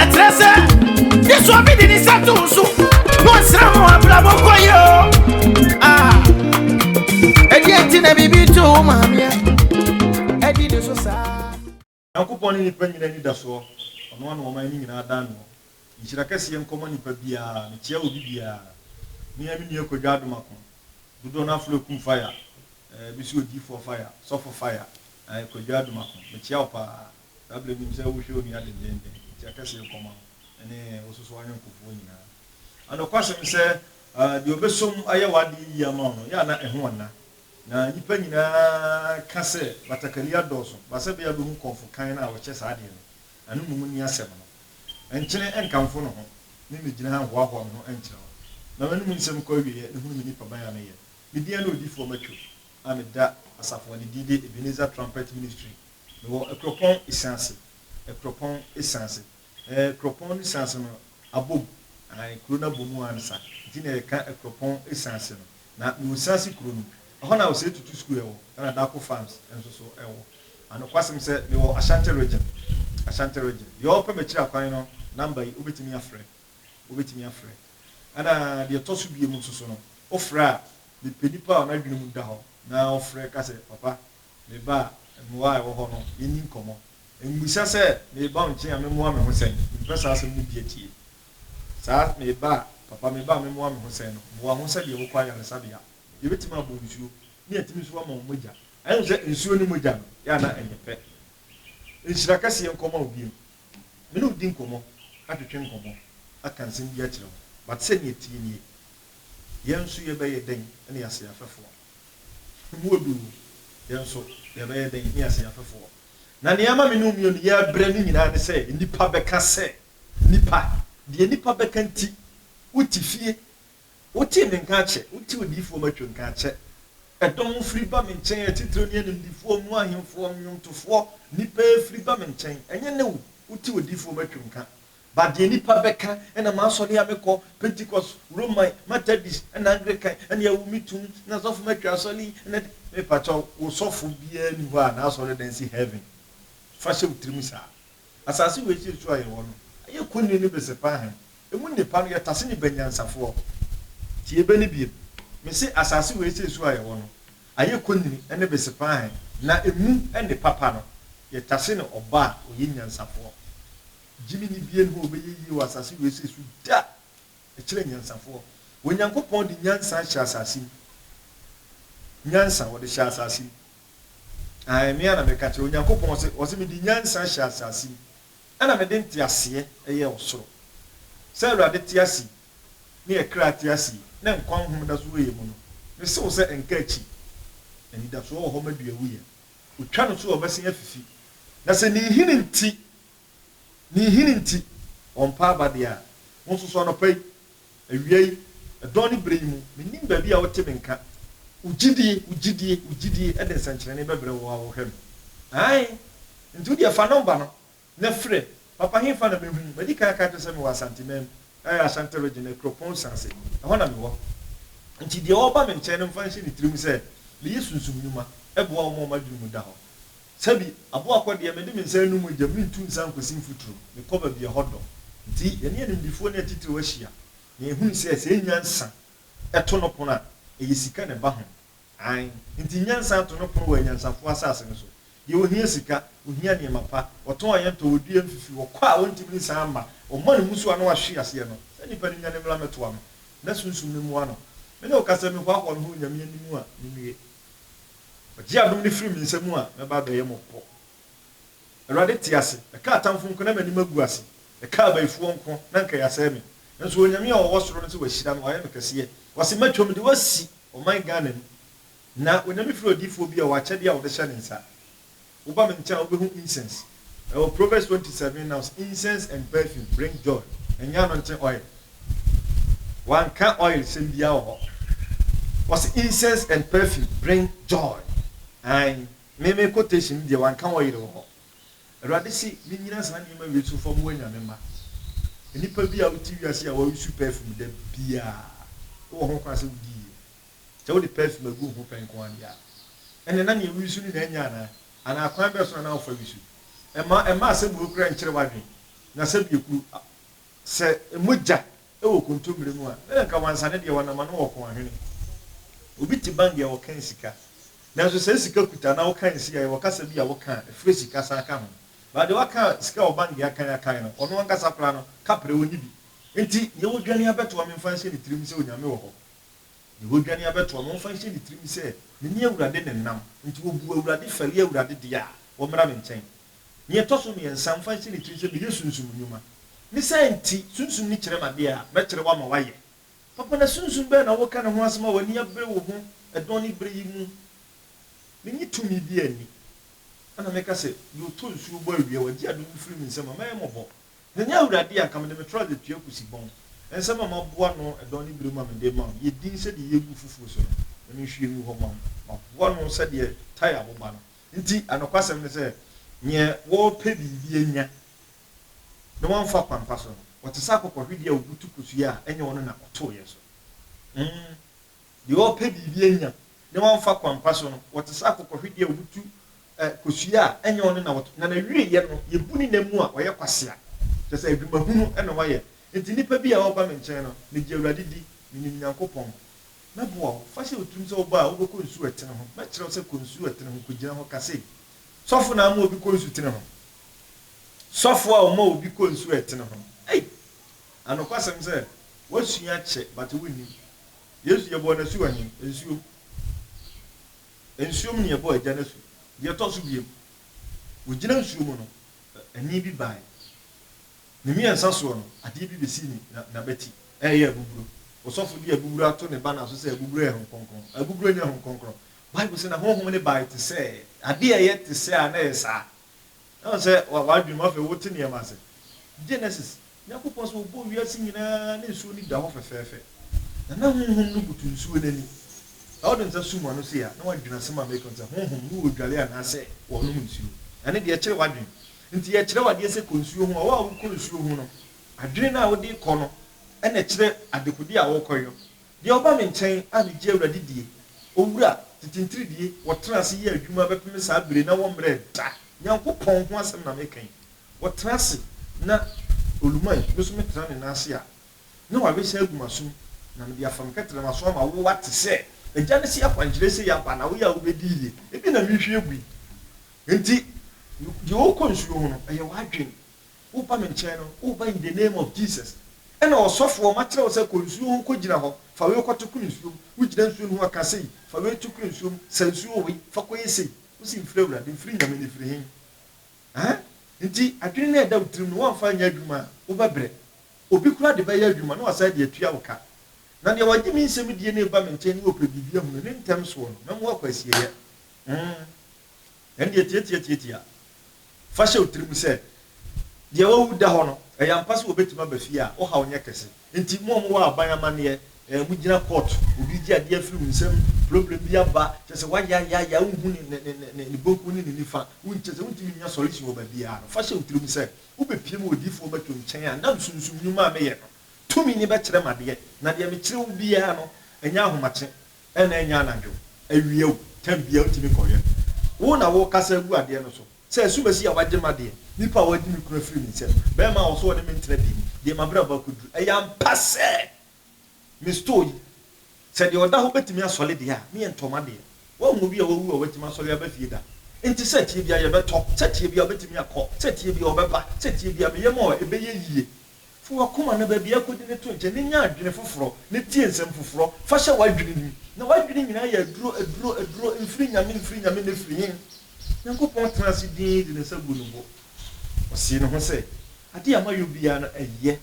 ɛkyerɛ sɛ yesu obi de ne nsa to wo so na ɔsra mo abrabɔ kɔ yɛ o ah. ɛdeɛ nti na biribi to wo maameɛ ɛdi ne so saa nyankopɔn ne nipa nyina ni da soɔ ɔno ana ɔma ne nyinaa dan noɔ nhyira kɛseɛ nkɔma nipa biara mekyea obi biara mea me nua kwadwa adomako dodoɔ no aforo akum fire eh, bi so odiifoɔ fire sɔfo fire eh, kwadwa adomako mekyea wo paa Saa berɛ no nim sɛ wohwɛ onua dendeenden, enti aka sei kɔma wo ne wo nso so ayɔnkofoɔ nyinaa. A Nokwasɛm sɛ, deɛ ɔbɛsom ayɛ w'adeɛ yie ama wo no, yɛ a na ɛho nna. Na nnipa nyinaa ka sɛ batakari adɔɔso, ba sɛ bɛyɛ a bɛhu kɔmfo kann no a ɔkyɛ saa adeɛ no, ɛno mmom nni asɛm no. Nkyene nkamfo ne ho, me mmɛgyina ha nhoahoa me ho nkyerɛ wo. Na m'anom nsɛm kɔ awieɛ na hunu me nipaban a meyɛ. Me din ne odifoɔ Matthew a meda Asafo Adedie Ebenezer Trumpet Ministry Mewɔ Akuropɔn Esaase, Akuropɔn Esaase, eh, Akuropɔn ne Esaase no abom, ae, kuro no abom ara ne sa, nti na yɛka Akuropɔn Esaase no. Na mewɔ Esaase kuro no mu, ɛhɔ na Osei Tutu School ɛwɔ, ɛna Dako Farms nso so ɛwɔ. Na nokwasɛm sɛ, mewɔ Ashanti Region, Ashanti Region. Deɛ ɔɔpɛ m'akyiri akwan no number yi, wobɛtumi afrɛ, wobɛtumi afrɛ. Ɛna deɛ ɛtɔ so biom nso so no, wofrɛ a, mepɛ nipa a n'adwene mu da hɔ na ɔfrɛ ka sɛ, Papa, Me ba, mmoa a ɛwɔ hɔ no, yenni nkɔmmɔ. Mmisa sɛ, 'Me ba, wo nkyɛn a, memmoa me ho sɛn? Mpɛ saa asɛm no bi atie. Saa, me ba, papa, me ba, memmoa me ho sɛn? no, boa ho sɛdeɛ wokɔ ayaresabea. Yebetumi abɔ nsuo, na yɛatumi nso ama wo mogya. Ɛyɛ wo sɛ nsuo ne mogya no yɛ a na ɛnyɛ pɛ? Nhyira kɛseɛ nkɔma wo bio. Me ne wo di nkɔmmɔ, atwetwe nkɔmmɔ, aka nsɛm bi akyerɛ wo, but sɛnea ɛteɛ nie, yɛn nso yɛbɛyɛ dɛn na yɛasɛ yɛafɛfoɔ? Mu odu no, yɛn nso yɛbɛyɛ dɛn? Hia sɛ yɛhwɛ fam. Na nea ɛma me ne wo mmienu yɛ brɛ no nyinaa ne sɛ nnipa bɛka sɛ, Nnipa, deɛ nnipa bɛka nti, wote fie. Wotee me nka akyɛ, wotee odiyifoɔ Matthew nka akyɛ. Ɛdɔm firi ba me nkyɛn, atitire ne animdefoɔ mu ahemfoɔ, nnwomtofoɔ, nnipa firi ba me nkyɛn. Ɛnyɛ nnɛ wo, wotee odiyifoɔ Matthew nka. But deɛ nipa bɛka ɛna m'asɔre a mekɔ, Pentecost, Roman, Methodist, ɛna Anglican, ɛna ɛwo me tum, ɛna sɔfo matwa asɔre yi, ɛna de, me pakyɛ wo, wo sɔfo biara ni hɔ a n'asɔre dan si heaven. Fa hyɛ wo tirim saa. Asase wei sei so a yɛwɔ no, ɛyɛ kɔnniri ne besepa ahan. Ɛmu nnipa no, yɛtase ne banyansafoɔ. Tie bɛ no biom. Me se asase wei sei so a yɛwɔ no, ayɛ kɔnniri ne besepa ahan, na ɛmu nnipa pa no, yɛtase ne ɔbaa a ɔyɛ nyansafoɔ. Gyimi ni bie nho ɔbɛyɛ yie wɔ asase wei sei so da! Ɛkyerɛ nyansafoɔ. Onyankopɔn de nyansa ahyɛ asase mu. Nyansa ɔde hyɛ asase mu. Ae, me ara na meka kyerɛ wo. Onyankopɔn ɔse, ɔse mede nyansa ahyɛ asase mu. Ɛna mede nteaseɛ ɛyɛɛ ɔsoro. Sɛ Awurade te ase yi, ne yɛ kra te ase yi, ne nkwa nhom da so wɔ yɛ mu no, me se wo sɛ ɛnka akyi. Anidasoɔ wɔ hɔ ma duawuiɛ. Otwa no so a ɔbɛsen afifi. Na sɛ ne nhini nti Ne nhini nti, wɔmpa aba biara. Wo nso so, anɔpa yi, awia yi, ɛdɔn ne bere yi mu, mennim baabi a wote me nka, wo gyidie, wo gyidie, wo gyidie de nsɛnkyerɛnne bɛbrɛ wo a wohwɛ me. Aane. Nti wodeɛ fa nɔmba no na frɛ. Papa, hefa na mɛhu wo? Madi kan aka akyerɛ sɛ mewɔ Asanteman mu, ɛyɛ Ashanti Region, Akuropon Nsase, ɛhɔ na mewɔ. Nti deɛ ɔreba me nkyɛn no mfa nhyɛ ne tirim sɛ meyɛ sunsum nnwuma boa wo ma wɔn adwene mu da hɔ. Sɛbi, aboa kɔ deɛ, mede me nsa anu mogya, meretu nsa nkɔsi mfuturo, mekɔ baabi a ɛhɔ dɔ. Nti, yɛne animdefoɔ ne atitiriw ahyia, na yɛhunu sɛ, sɛ ɛnya nsa to no pono a, ɛyɛ sika na ɛba ho. Aane, nti nya nsa to no pono wɔ anyansafoɔ asase no so. Deɛ ɔhia sika, ɔhia nneɛma pa, ɔtɔn a yɛntɔ, ɔdua a ɛmfifi, ɔkɔ a ɔntumi nsan mma, ɔma no mmusuo a na wahwe aseɛ no, saa nipa no nyane mmra mmɛtoa me, na sunsum no mmoa no. Me ne wo ka sɛ, mehoahoa me ho wɔ Nyame anim a, mennue. Ɔgye adom no firi me nsa mu a, mɛba abɛyɛ mo pɔ. Awurade te ase! Ɛkaa atamfo nko, na m'anim agu ase, ɛkaa abayifoɔ nko, na anka yɛasɛe me. Nanso Onyame a ɔwɔ soro no se wahyira me, wayɛ me kɛseɛ. Ɔse mɛtwa mu de wo asi ɔman Ghana mu. Na Onyame firi odiyifoɔ bi a ɔwɔ akyɛdeɛ a ɔde hyɛ ne nsa. Woba me nkyɛn a, wubehu incense. Ɛwɔ Proverbs twenty seven Now incense and perfume bring joy, ɛnyɛ anointing oil. Wɔanka oil sɛm biara wɔ hɔ. Wɔse incense and perfume bring joy. Ae, me me quotation no deɛ wɔanka oil wɔ hɔ. Awurade se minnyina saa nneɛma wei so mfa mu anyame mma. Nnipa bi a wote wiase a wɔresu perfume da biara, wowɔ ho kwan sɛ wudi yie. Sɛ wode perfume agu wo ho pɛ nko ara deɛ a, ɛnneɛ na nea woresu no na anya anaa? Anaa kwan bɛn so na na wofa resu? Ɛmma, ɛmma asɛmbuo koraa nkyere w'adwene, na sɛ biekuro, a, sɛ mogya wɔ kontommire mu a, na anka wansa ne deɛ wɔnam ano wɔ kɔn ahwene. Obi te bank deɛ wɔkan sika, nanso sɛ sika kuta anaa woka nsi a, yɛwɔ kasa bi a woka a, ɛfrɛ sika san ka ho. But deɛ waka sika wɔ bank deɛ akan akan no, ɔno ankasa koraa no, kapre, ɔnni bi. Enti, deɛ wodwane abɛtoa me mfa nhyɛ ne tirim sɛ Onyame wɔ hɔ, Yehoadwane abɛto ɔno nso ahyɛ ne tirim sɛ, Mene Awurade ne nam. Enti ɔbuu Awurade fɛre, Awurade deɛ a, wɔmmra me nkyɛn. Nea ɛtɔ so mmiɛnsa, mfa nhyɛ ne tirim sɛ, Meyɛ sunsum nnwuma. Ne saa nti, sunsum no kyerɛ m'adeɛ a, mɛkyerɛ wo ama woayɛ. Papa, na sunsum bɛn na woreka ne ho asɛm a w'ani abere wo ho ɛdɔn ne berɛ yi mu? Mennye tumi biara nni. Ɛnna meka sɛ, Deɛ ɔtɔ nsuo bɔ awia, wagye adom firi me nsam a, mɛyɛ mmɔbɔ. Na nyɛ Awurade a, anka mede me trɔse atua kosi bɔn. Nsɛm a maboa ano dɔ ne bere mu a mede rema wo yɛ dinn sɛ deɛ yɛregu foforo so no, na menhwie ngu hɔ mma wo. Maboa ano sɛ deɛ tae aboba no. Enti anokwasɛm ne sɛ, neɛ wɔrepɛ biribi anya na wamfa kwampa so no, ɔte sɛ akokɔhwedeɛ a ɔbutu kosua a ɛnyɛ ɔno na ɔtoeɛ so. Umm. Deɛ ɔrepɛ biribi anya na wamfa kwampa so no, ɔte sɛ akokɔhwedeɛ a ɔbutu kosua a ɛnyɛ ɔno na ɔto, na n'awieeɛ no, yɛbu ne nam mu a, ɔyɛ kwasea. Kyerɛ sɛ, adwuma hunu na wayɛ. Enti nnipa bi a wɔba me nkyɛn no, megye Awurade di, menim Nyankopɔn. Mɛboa wo. Fa hyɛ wo tirim sɛ woba a, wobɛkɔ nsu a ɛtene ho. Mɛkyerɛ wo sɛ, 'Kɔ nsu a ɛtene ho, kɔgyina hɔ, ka sei. Sɔfo na ama obi kɔ nsutene ho. Sɔfo a ɔma obi kɔ nsu a ɛtene ho no, ei! Anokwasɛm sɛ, woasua kyɛ, but wonnim. Yesu yɛbɔɔ no asu ahe? Nsuo. Nsuo mu na yɛbɔɔ Agya no asu. Deɛ ɛtɔ so biom, ɔgyina nsuo mu no, ɛnne bi baeɛ. Ne mmiɛnsa soɔ no, adeɛ bi bɛsii ne n'abati, ɛreyɛ abuburo. Ɔsɔfo de abuburo ato ne banner so sɛ abuburo yɛ Honhom Kronkron. Abuburo nyɛ Honhom Kronkron. Bible se na Honhom no bae te sɛ, adeɛ a ɛyɛ te sɛ a na ɛyɛ saa. Na ɔsɛ w'adwene mu afei wote nneɛma ase. Genesis, Nyankopɔn sɛ ɔbɔɔ wiase nyinaa ne nsuo no da hɔ fɛfɛɛfɛ. Na na Honhom no butu nsuo no ani. Sɛ wode nsa sum ano sei a, na woadwene asɛm a meka no sɛ Honhom no wɔ dwale anaasɛ wɔnom nsuo. Ɛno deɛ ɛkyere w'adwene. Nti yɛkyerɛ wo adeɛ sɛ kɔ nsuo ho a, wo a wokɔ nsuo ho no, adwene no a wode rekɔ no na ɛkyerɛ adekodeɛ a worekɔyɔ. Deɛ ɔba me nkyɛn a ne gye Awurade die, Owura, tete ntiridie, wɔtena ase yɛ adwuma bɛpeme saa bire na wɔmmerɛɛ da, Nyankopɔn ho asɛm na meka yi, wɔtena ase na Oluman, me nso metena ne nan ase a, na wawe saa agu m'asom, na mede afa me kɛterɛ m'aso ama wo ate sɛ Agya no se akwankyerɛ sei aba na woyɛ a wobɛdi yie, ebi na merehwie agu yi, enti deɛ ɔrekɔ nsuo ho no, ɛyɛ w'adwene. Woba me nkyɛn no, woba in the name of Jesus. Ɛna ɔsɔfoɔ ma kyerɛ wo sɛ kɔ nsuo ho kɔgyina hɔ, fa wei kɔto koro nsuo mu. Wogyina nsuo no ho a, ka sei, Fa wei to koro nsuo mu, sa nsuo wei, fa kɔyɛ sei. Wose mfiri Awurade, mfiri Nyame na ɛfiri he? Ahaa, nti adwene no a ɛda wo tirim no woamfa anyɛ adwuma a, wobɛbrɛ. Obi koraa de bɛyɛ adwuma na wasan de atua wo ka. Na deɛ wagye me nsɛm die no reba me nkyɛn na ɔpɛ biribi ahunu ne ntɛm soɔ no, mɛma wakɔ asieeɛ. Hum, ɛndeɛ tiatiatiatia, Fa hyɛ wo tirim sɛ, deɛ wawu da hɔ no, ɛyɛ ampa sɛ wɔbɛtumi aba fie a, wo haw nyɛ kɛse. Enti, mo a mowɔ aban amanneɛ, ɛɛ, mogyina court, obi regye adeɛ afiri wo nsam, problem bi aba, kyerɛ sɛ, woayaayaaya, wonhu ne, ne, ne, ne, ne bonkum ne ne nifa, won, kyerɛ sɛ, wontumi nnya solution wɔ baabiara no, fa hyɛ wo tirim sɛ, wobɛpue ma odiyifoɔ bɛto nkyɛn a na nsunsum nnwuma a meyɛ no tumi no bɛkyerɛ me adeɛ, na deɛ mekyerɛ wo biara no, ɛnyɛ ahomakye, Ɛna ɛnyɛ anadwo, awia o, time biaa wontumi nkɔyɛ no. Wo na wokasa agu adeɛ no so sɛ asumasi a wagye m'adeɛ, nipa a wadi me kunu afiri me nsam, barima a ɔse ɔne me ntena biem, deɛ m'abrabɔ akɔduru. Ɛyɛ ampa sɛ me store yi, sɛ deɛ ɔda hɔ bɛtumi asɔre deɛ a, meɛ ntɔ m'adeɛ. Woahu obi a wawu a watumi asɔre aba fie da? Nti sɛ ɛteɛ biaa yɛbɛtɔ, sɛ ɛteɛ biaa ɔbɛtumi akɔ, sɛ ɛteɛ biaa ɔbɛba, sɛ ɛteɛ biaa me yam a ɛbɛyɛ yie. Fa w'akoma na baabi a akodi no to nkyɛn na nya adwene foforɔ, na tie nsɛm foforɔ, fa hyɛ w'adwenem mu. Na w'adwene nyinaa yɛ aduro, aduro, aduro, mfiri Nyame, mfiri Nyame, na ɛfiri hen? Nyankopɔn tena ase dinn de ne nsa guu ne bo. Ɔsee ne ho sɛ, Adeɛ a mayɔ biara no ɛyɛ,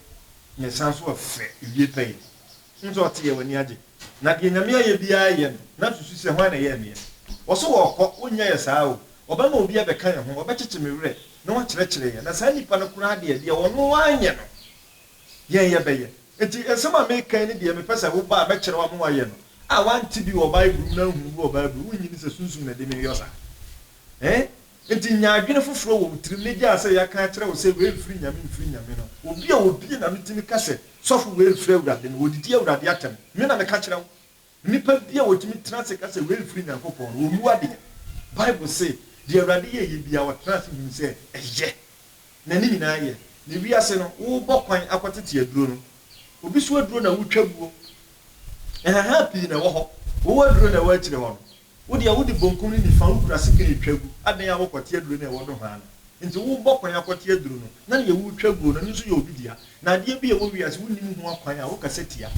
na ɛsan nso ɛfɛ, ɛwie pɛyɛ. Hu sɛ ɔte yɛ, w'ani agye. Na deɛ Nyame ayɛ biara yɛ no na susu sɛ hwan na ɛyɛɛ meɛ. Wɔ so wɔɔkɔ, wonnya yɛ saa o. Wɔbɛma obi abɛka yɛ ho, wɔbɛkyekye me werɛ na wɔakyerɛkyerɛ yɛ. Na saa nipa no koraa deɛ, deɛ ɔno wanyɛ no, yɛn yɛbɛyɛ. Enti nsɛm a meka yi ne deɛ mepɛ sɛ woba a mɛkyerɛ wo ama woayɛ no. A, wante bi wɔ Bible mu na anhunu bi wɔ Bible mu, wonnye ni sɛ Sunsum na ɛde me yɔ saa? Ee. Enti nya adwene foforɔ wɔ wo tirim na gyaa sɛ yɛaka akyerɛ wo sɛ wei mfiri Nyame mfiri Nyame no. Obi a obue n'ano tumi ka sɛ, Sɔfo wei mfiri Awurade no, wɔdidi Awurade atɛm. Me na meka kyerɛ wo. Nnipa bi a wɔtumi tena ase ka sɛ wei mfiri Nyankopɔn no, wɔmmu adeɛ. Bible se, Deɛ Awurade yɛeɛ biara ɔtena ase hunu sɛ ɛyɛ, na ne nyinaa yɛ. Na wiase no, worebɔ kwan akɔtete aduro no. Obi so aduro na woretwa guo. Nhahan pii na ɛwɔ hɔ. Wowɔ aduro na ɛwɔ akyire hɔ no. Wo deɛ wode bonkum ne nifa wokura sekan retwa gu, adɛn a wokɔte aduro no a ɛwɔ nohoa no nti worebɔ kwan akɔte aduro no, na deɛ woretwa guo no ɛno nso yɛ obi dea, na adeɛ bi a ɛwɔ wiase wonim ho akwan a wokasa tia,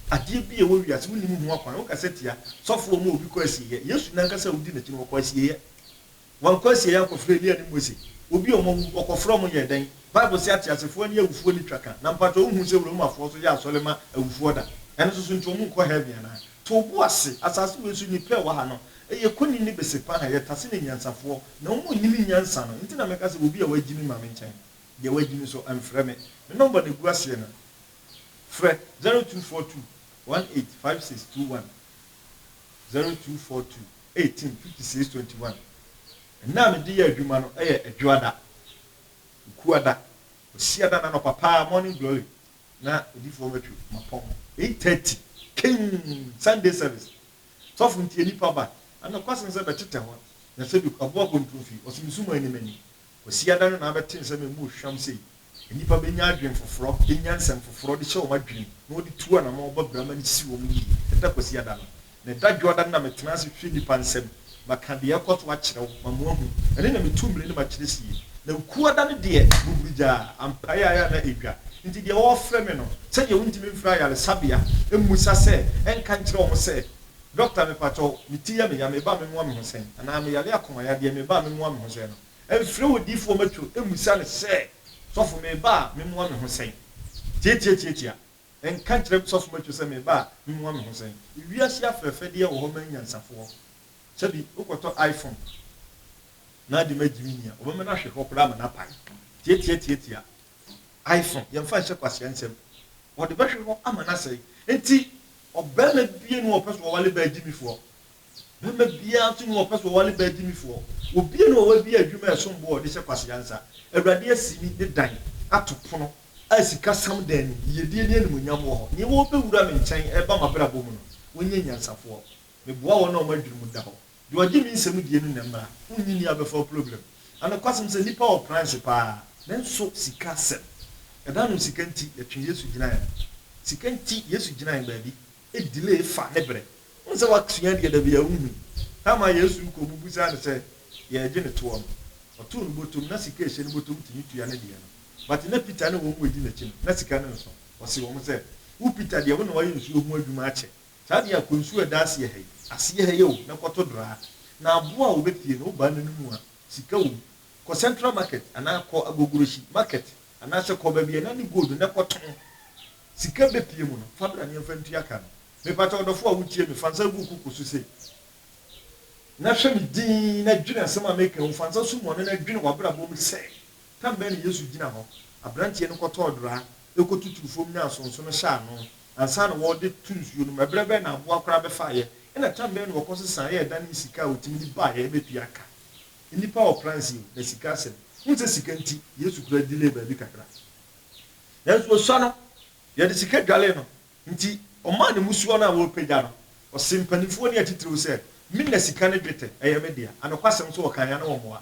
adeɛ bi a ɛwɔ wiase wonim ho akwan wokasa tia, sɔfoɔ ma obi kɔ asieɛ, Yesu no ankasa a wodi n'akyi no ɔkɔ asieɛ. Wɔkɔ asiei akɔfrɛ Elia ne Mose. Obi a wɔawu, wɔkɔfrɛ wɔn yɛ dɛn? Bible se ateasefoɔ ne awufoɔ nni twa ka. Na mpakyɛ wonhuu sɛ Romafoɔ nso yɛ asɔre ma awufoɔ da? Ɛno nso so nti wɔn nkɔ heaven anaa? To wo bo ase, asase wei so nnipa a ɛwɔ ha no yɛ kɔni ne besepaha, yɛ tase ne nyansafoɔ. Na wɔn nnim nyansa no nti na meka sɛ obi a wagyimi ma me nkyɛn. Deɛ wagyimi nso mfrɛ me. Me nɔmba na ɛgu aseɛ no, frɛ, zero two four two one eight five six two one. zero two four two eighteen fifty six twenty one Nna a mede yɛ adwuma no yɛ Adwoada, Okuada, Kwasiada na anɔpa paa Morning Glory na odifoɔ no atwi mapɔn eight thirty king Sunday service sɔfo nti nipa ba anɔkwasen sɛ bɛtetɛ hɔ na sɛ bi aboa bɔ ntomfi ɔsɛ mesuma anim anim Kwasiada no na abɛte nsɛm a emu hwam sei, Nnipa benya adwene foforɔ, benya nsɛm foforɔ de hyɛ wɔn adwenem, na wɔde tu anamɔn ba brama no si wɔn yie. Ɛda Kwasiada no. Na ɛda Dwoada no na metena ase hwɛ nnipa nsɛm, maka deɛ ɛrekɔ so akyerɛ wo ma moahu. Ɛno na metu mmere no ma kyerɛ sie. Na Wukuada no deɛ, buburugyaa, ampaeɛ ayɛ a na edwa. Enti deɛ wɔrefrɛ me no, sɛdeɛ wontumi mfrɛ ayaresabea mmisa sɛ ɛnka nkyerɛ wɔn sɛ, Dɔkta me pakyɛw me ti yɛ me ya meba me moa me ho sɛn anaa me yare akoma yadeɛ meba me moa me ho sɛn no ɛmfrɛ odiifoɔ matwo ɛmmusa no sɛ sɔfo meba a me moa me ho sɛn tiatiatiatia ɛnka nkyerɛ sɔfo matwo sɛ meba a me moa me ho sɛn ewiase afɛfɛdeɛ wɔ hɔ ma anyansafoɔ sɛbi wokɔtɔ iPhone na ade ma gyimi nia ɔbɛma no ahwehwɛ hɔ koraa ama no apae tiatiatiatia Ae so, yɛmfa nhyɛ kwasea nsam. Wɔde bɛhwe hɔ ama no asɛe. Enti ɔbarima biara nni hɔ a ɔpɛ sɛ ɔwale baa gyimifoɔ. Barima biara nso nni hɔ a ɔpɛ sɛ ɔwale baa gyimifoɔ. Obiara nni hɔ a wabue adwuma a ɛsom bo a ɔde hyɛ kwasea nsa. Awurade asi me ne dan ato pono a sikasɛm da anim, yiyedie ne animuonyam wɔ hɔ. Nea ɔbɛwura me nkyɛn reba m'abrabɔ mu no, ɔnyɛ nyansafoɔ. Meboa wɔn a wɔn adwenem da hɔ Deɛ ɔgye me nsɛm die no na ɛmmra, wonnye nni abɛfa wo problem. Na nokwasɛm sɛ nnipa wɔ pran so paa, nanso sika asɛm, ɛda ano sika nti yɛtwe Yesu gyinaeɛ no. Sika nti Yesu gyinaeɛ baabi, e delay fa ne berɛ. Wohu sɛ woasua deɛ da biaa wonhu. Time a Yesu rekɔ ɔmo bisaa no sɛ deɛ ɛgye ne toɔ no, ɔtoo no botom, na sika a ɛhyɛ ne botom tumi tua ne deɛ no. But na Peter ne wɔn a wɔdi n'akyi no, na sika no nnso. Ɔsee wɔn sɛ, Wo Peter deɛ, wo na woayɛ nsuo ho adwuma akyɛ. Saa deɛ a kɔ nsuo a ɛda aseɛ ha yi, aseɛ ha yi o, na kɔ to draa. Na aboa a wɔbɛpie no, wobaa n'anom mu a, sika wɔ mu. Kɔ Central Market anaa kɔ Agogorohyi Market anaasɛ kɔ baabi a ɛna ne gold no na kɔ tɔn. Sika bɛpie mu no, fa bra na yɛmfa ntua ka no. Mepakyɛ ɔdɔfoɔ a wotie me, fa nsa gu wo koko so sei, na hwɛ me dinn na dwene asɛm a meka yi ho. Fa nsa sum w'ano na dwene w'abrabɔ mu sɛ Tam bɛn na Yesu gyina hɔ? Aberanteɛ no kɔtɔɔ draa, kɔtutuu fam nyaa nsonso no hyɛɛ ano ansa na wɔde to nsuo no mu. Ɛberɛ bɛn na aboa koraa bɛfaeɛ? Ɛnna tam bɛn na wɔkɔ so saeɛ a ɛdanee sika a wɔtumi de baeɛ bɛtua ka? Nnipa wɔ plans yi o, na sika asɛm. Wohu sɛ sika nti, Yesu koraa delay baabi kakra. Nanso wɔsua no, wɔde sika dwalee no. Enti ɔmaa ne mmusuo no a wɔrepagya no. Ɔsee mpanimfoɔ ne atitiriw sɛ, Me na sika ne dwetɛ, ɛyɛ me dea. Anokwasɛm nso wɔkaeɛ a na wɔmmoa.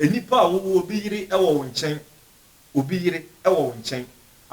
Nnipa a wɔwɔ obi yere wɔ wo nkyɛn, obi yere wɔ wo nkyɛn.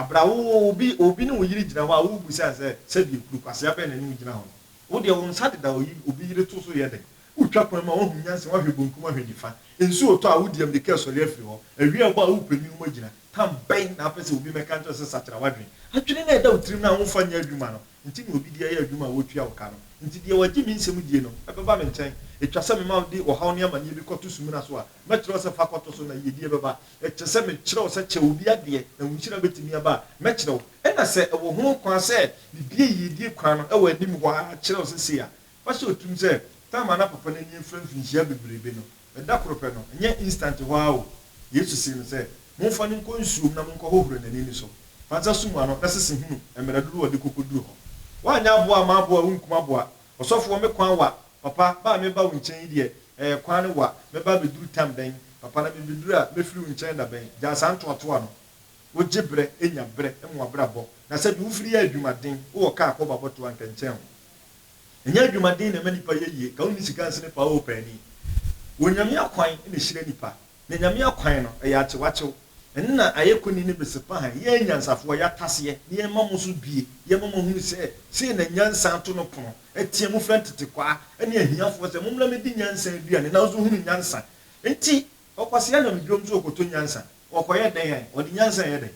Bere a wowɔ obi, obi ne wo yere gyina hɔ a, wobisa sɛ, Sɛdeɛ kuro kwasea bɛn na ɛne wo gyina hɔ no? Wo deɛ, wo nsa deda oyi, obi yere to so yɛ dɛn? Wotwa kwan mu a, woahu nyansa, woahwɛ benkum, woahwɛ nifa. Nsu retɔ a, wodi ammirika resɔre afiri hɔ. Awia rebɔ a, worepɛ ne mu agyina. Tam bɛn na wopɛ sɛ obi mmɛka nkyerɛ wo sɛ sakyera w'adwene? Adwene no a ɛda wo tirim no a womfa nyɛ adwuma no, nti na obi de yɛ adwuma a wotua wo ka no. Nti deɛ wagye me nsɛm die no bɛba me nkyɛn. Etwa sɛ mema wo de ɔhaw ne amaneɛ bi kɔto sumina so a, mɛkyerɛ wo sɛ fa kɔto so na yiedie bɛba. Ɛkyerɛ sɛ mekyerɛ wo sɛ kyɛ obi adeɛ na wo nhyira bɛtumi aba a, mɛkyerɛ wo. Ɛna sɛ ɛwɔ ho kwan sɛ mebue yiedie kwan no wɔ anim hɔ ara kyerɛ wo sɛ sei a, fa hyɛ wo tirim sɛ, Tam a na papa no ani afira mfirinhyia bebrebe no, na da koro pɛ no, ɛnyɛ instant hɔ ara o, Yesu see no sɛ, Momfa no nkɔ nsuo mu na monkɔhohoro n'ani ne so. Fa nsa sum ano na sese hunu mmerɛ dodoɔ a ɔde kɔkɔduru hɔ. Woanyɛ aboa a maboa wo nkum aboa. Ɔsɔfoɔ, me kwan wa, papa, ba a mereba wo nkyɛn yi deɛ, ɛɛ, kwan no wa, mɛba abɛduru tam bɛn, papa, na mebɛduru a, mɛfiri wo nkyɛn da bɛn? Gyaa saa ntoatoa no. Wogye berɛ, nya berɛ ma w'abrabɔ, na sɛdeɛ wofiri yɛ adwumaden, wowɔ kaa kɔ bɔ abɔtoɔ a, anka ɛnkyɛn ho. Ɛnyɛ adwumaden na ɛma nnipa yɛ yie, ka wonni sika nsene paa oo paani. Wɔ Nyame akwan na ɛhyira nnipa, na Nyame akwan no, ɛyɛ akyewakyew. Ɛno na ayɛ koni ne besepahan, yɛn anyansafoɔ, yɛataseɛ, na yɛma mo so due, yɛma mo ahunu sɛ, sei na nyansa to no pono, ɛteɛ mu frɛ ntetekwaa ne ahiafoɔ sɛ, mommra mmɛdi nyansa aduane, nanso hunu nyansa. Enti, ɔkwasea nam dwom so rekɔtɔ nyansa, ɔrekɔyɛ dɛn? Ɔde nyansa reyɛ dɛn?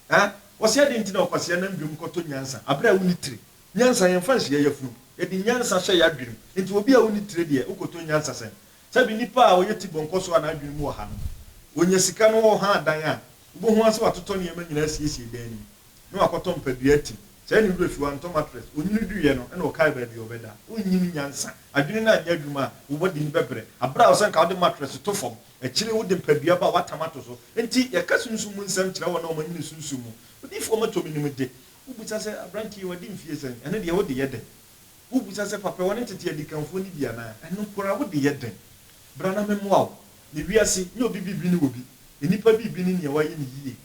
Ɛ? Ɔse adɛn nti na ɔkwasea nam dwom kɔtɔ nyansa aberɛ a wonni tire? Nyansa yɛmfa nhyia yafunu, yɛde nyansa hyɛ yɛadwene mu. Enti obi a onni tire deɛ, wokɔtɔ nyansa sɛn? Sɛbi nipa a ɔyɛ tibɔnkɔ so a n'adwene mu ɔha no, ɔnya sika na ɔha dan a, wobɛhu ara sɛ watotɔ nneɛma nyinaa asiesie dan no mu, na wakɔtɔ mpadua atim. Sɛɛ ne werɛ fi, wantɔ mattress, onwunu duiɛ no na ɔkae baabi a ɔbɛda. Wonyi ne nyansa. Adwene no anyɛ adwuma a, wo bɔdini bɛbrɛ aberɛ a ɔsɛ anka wode mattress to fam. Akyiri yi wode mpadua ba a wɔatam ato so. Enti yɛka sunsum mu nsɛm kyerɛ wɔn a wɔanyini sunsum mu. Odiyifo a wɔatɔ no nim de, wobisa sɛ, Aberante yi, wadi mfe sɛn? Ɛno deɛ, wode yɛ dɛn? Wobisa sɛ, Papa, wɔne tete adikanfoɔ no bi anaa? Ɛno nko ara, wode yɛ dɛn? Bra na memmoa wo. Na wiase nyɛ obi biribi ne obi. Nnipa biribi ne nea wɔayɛ no yiye.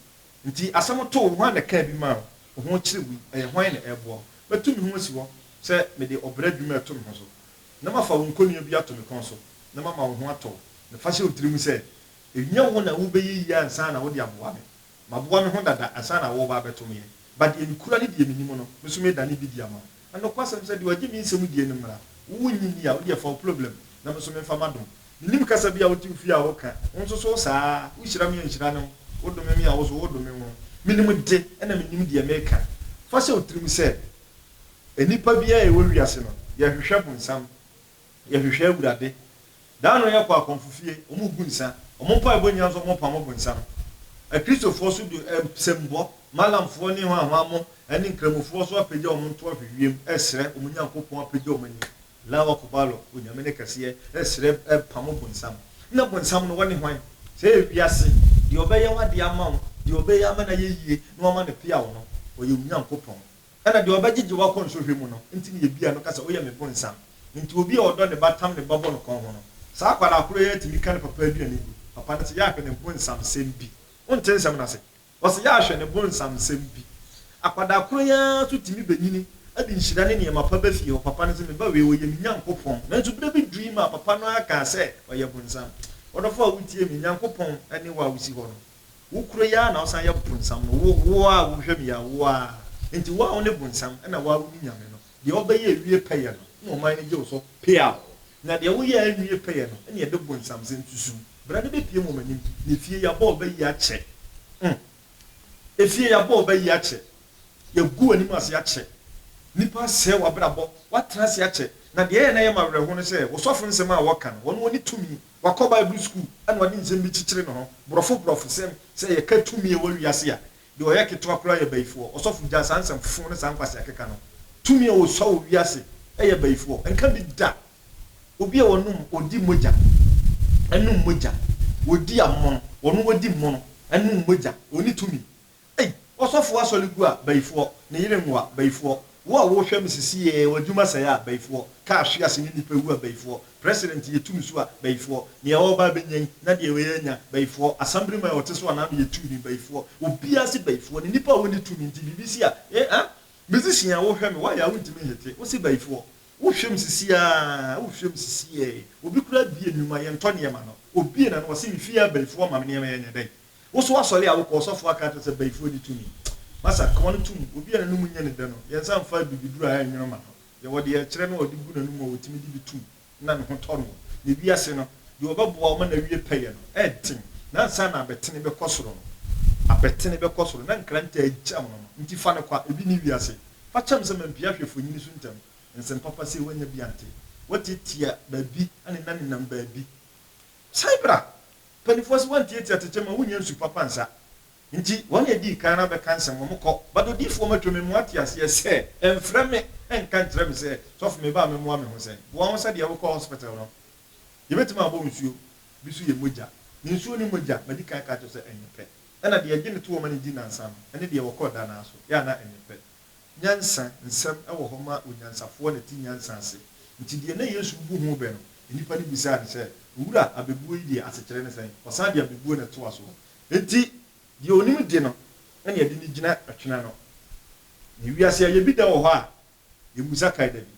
Enti asɛm too wo, hwan na ɛkaa bi maa wo? Wo ho kyere wo yi, ɛyɛ hwan na ɛreboa wo? Mɛto me ho asi hɔ sɛ mede ɔbrɛ adwuma reto me ho so. na mafa wo nkonnua bi ato me kɔn so, na mama wo ho atɔ wo, na fa hyɛ wo tirim sɛ, ɛnyɛ wo na wobɛyɛ yie ansa na wode aboa me. Maboa me ho dada ansa na woreba abɛto me yɛ. Ba deɛ mekura ne deɛ menim no, me nso medane bi adi ama wo. Na nokwasɛm sɛ, deɛ ɔgye me nsɛm die no mmara, wo wonnye nni a, wo deɛ fa wo ploblɛm, na me nso memfa m'adom. Mennim kasa bi a wote wo fie a woka, wo nso so wo saa ara, wohyira me a nhyira ne wo, wodome me a wo nso wodome wo. Menim de, ɛna menim deɛ meka. Fa hyɛ wo tirim sɛ, Nnipa biara a yɛwɔ wiase no, yɛhwehwɛ bonsam, yɛhwehwɛ Awurade. Da ano yɛkɔ akɔmfo fie, wɔgu nsa. Wɔn mpaebɔ nyinaa nso wɔpamo bonsam. Akristofoɔ nso de nsɛmbɔ, Malamfoɔ ne Hwanhwanmo ne Nkramofoɔ nso apagya wɔn ntoa hwɛ wiem resrɛ wɔn Nyankopɔn apagya wɔn ani, Allahu Akbar, Onyame ne kɛseɛ, resrɛ, repamo bonsam. Na bonsam no, wɔne hwan? Sɛ ɛyɛ wiase, deɛ ɔbɛyɛ w'adeɛ ama wo, deɛ ɔbɛyɛ ama no ayɛ yie na wama no peaw no, ɔyɛ wo Nyankopɔn. Ɛna deɛ ɔbɛgyegye wo akɔ nsɔhwɛ mu no nti ne yɛbia no ka sɛ woyɛ me bonsam. Nti obi a ɔdɔ ne ba tam ne ba bɔ no kɔnho no, saa akwadaa korɔ yi ara tumi ka ne papa aduane gu. Papa no se yɛahwɛ ne bonsamsɛm bi. Wonte nsɛm no ase? Ɔse yɛahwɛ ne bonsamsɛm bi. Akwadaa korɔ yi ara nso tumi bɛnyini de nhyira ne nneɛma pa ba fie hɔ. Papa no se me ba wei ɔyɛ me Nyankopɔn. Nanso berɛ bi dui maa papa no ara kaa sɛ ɔyɛ bonsam. Ɔdɔfoɔ a wotie me, Nyankopɔn ne wo a wosi hɔ no. Wo koro yi ara na wosan yɛ bonsam no, wo, wo ara a wohwam yi ara, wo ara. Enti wo a wone bonsam, ɛnna wo ara wone Nyame no. Deɛ wobɛyɛ awie pɛyɛ no, ɛnna ɔman no gye wo so peaw. Na deɛ woyɛ anwie pɛyɛ no, ɛnna yɛde bonsamsɛm susu wo. Bra na bepue mo m'anim, na efie yɛabɔ wo ba yi akyɛ. Mm. Efie yɛabɔ wo ba yi akyɛ. Yɛagu w'anim ase akyɛ. Nnipa asɛe w'abrabɔ. Woatena ase akyɛ. Na deɛ ɛyɛ na ɛyɛ me awerɛhow ne sɛ, wo sɔfo nsɛm a wɔka no, wɔn, wɔne tumi. Wakɔ Bible sukuu na ɔde nsɛm bi kyekyere ne ho, borɔfo borɔfosɛm, sɛ yɛka tumi a ɛwɔ wiase a, deɛ ɔyɛ ketewa koraa yɛ bayifoɔ. Ɔsɔfo gyaa saa nsɛmfofo ne saa nkwaseakeka no. Tumi a wɔsua wɔ wiase yɛ bayifoɔ. Nka bi da. Obi a ɔnom, ɔdi mogya, ɛnom mogya. Ɔdi amono, ɔno ɔdi mono, ɛnom mogya. Ɔnni tumi. Ei, ɔsɔfoɔ asɔre gu a, bayifoɔ, ne yere nwo a, bayifoɔ, wo a wohwɛ me sesiɛ a, w'adwuma sɛe a, bayifoɔ, kaa hwe ase ne nnipa wu a, bayifoɔ, president yɛ tum so a, bayifoɔ, nea ɔreba abɛnya yi, na deɛ wei anya, bayifoɔ, assembly man a ɔte so a, n'ano yɛ tuumm, bayifoɔ, obiara se bayifoɔ, ne nnipa a wɔnni tumi nti biribi si a, eh, ah, musician a wohwɛ me, why a wontumi nhete, wose bayifoɔ, wohwɛ me sesiɛ a, wohwɛ me sesiɛ, obi koraa bie nnwuma, yɛntɔ nneɛma no, obie na no ɔse me fie a, bayifoɔ, ma me nneɛma yɛ, ɛnyɛ dɛn. Wo so asɔre a wo kɔ, ɔsɔfo aka akyerɛ sɛ bayifoɔ ni tumi. Masa, ka wɔn to mu. Obi a n'anum nyɛ ne dɛ no, yɛnsa mfa abibiduro a ɛnnwono mma no. Deɛ wɔde yɛ ɛkyerɛ no a ɔde gu n'anum a ɔtumi de bi to mu na ne ho tɔ no. Na ewiase no, deɛ ɔbɛboa wo ma n'awie pɛyɛ no, ɛnten. Na ansa na abɛtene bɛkɔ soro no, abɛtene bɛkɔ soro, na nkrantɛ agya amono no. Enti fa no kɔ a, ebi nni wiase. Fa kyɛm sɛ mampia hwɛ mfonini so ntɛm. Nsɛm papa sei, woannya bi ante. Woatiatia baabi ne na nenam baabi. Cyber a mpanyimfoɔ se wɔntiatia tete ma wonnya nsu papa nsa nti wɔn na edii kan ara bɛka nsɛm wɔn kɔ. But odiyifoɔ matwa me mu ate aseɛ sɛ ɛmfrɛ me ɛnka nkyerɛ me sɛ sɔfo meba a memmoa me ho sɛn. Boa wo sɛdeɛ wokɔ hospital no yɛbɛtumi abɔ wo nsuo bi so yɛ mogya ne nsuo ne mogya madi kan aka akyerɛ wo sɛ ɛnyɛ pɛ ɛna deɛ yɛgye no to wɔn ani di nnansa no ɛne deɛ wɔkɔ da no ara so yɛ a na ɛnyɛ pɛ. Nyansa nsɛm wɔ hɔ ma onyansafoɔ na te nyansa ase. Nti deɛ na Yesu rebu ho bɛ no, nnipa no bisaa no sɛ, Owura, abɛbuo yi deɛ, asekyerɛ ne sɛn? Ɔsan de abɛbuo na ɛtoa soɔ. Enti deɛ ɔnim de no na ɛde no gyina twene ano. Na wiase ayɛ bi da wɔ hɔ a, yɛmmusa kae da bi.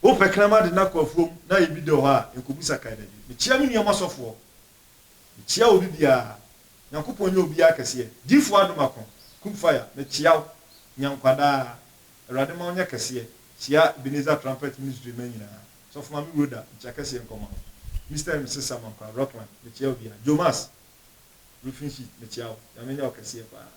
Wopɛ kramade na kɔ afuom na ayɛ bi da wɔ hɔ a, yɛnkɔbusa kae da bi. Mekyea me nuanom asɔfoɔ Mekyea obi biara. Nyankopɔn nyɛ obiara kɛseɛ. Gyifo adom ako, kum fire, mekyea wo, nya nkwa daa. Awurade ma wo nyɛ kɛseɛ, kyea Ebenezer Trumpet Ministry mma nyinaa. Sɔfo Maame Rhoda, mekyea kɛseɛ nkɔ ma wo. Mister and Mrs Samankwah, Rockland, mekyea obiara. Joe Mass, Roofing Sheet, mekyea wo, Nyame nyɛ wo kɛseɛ paa.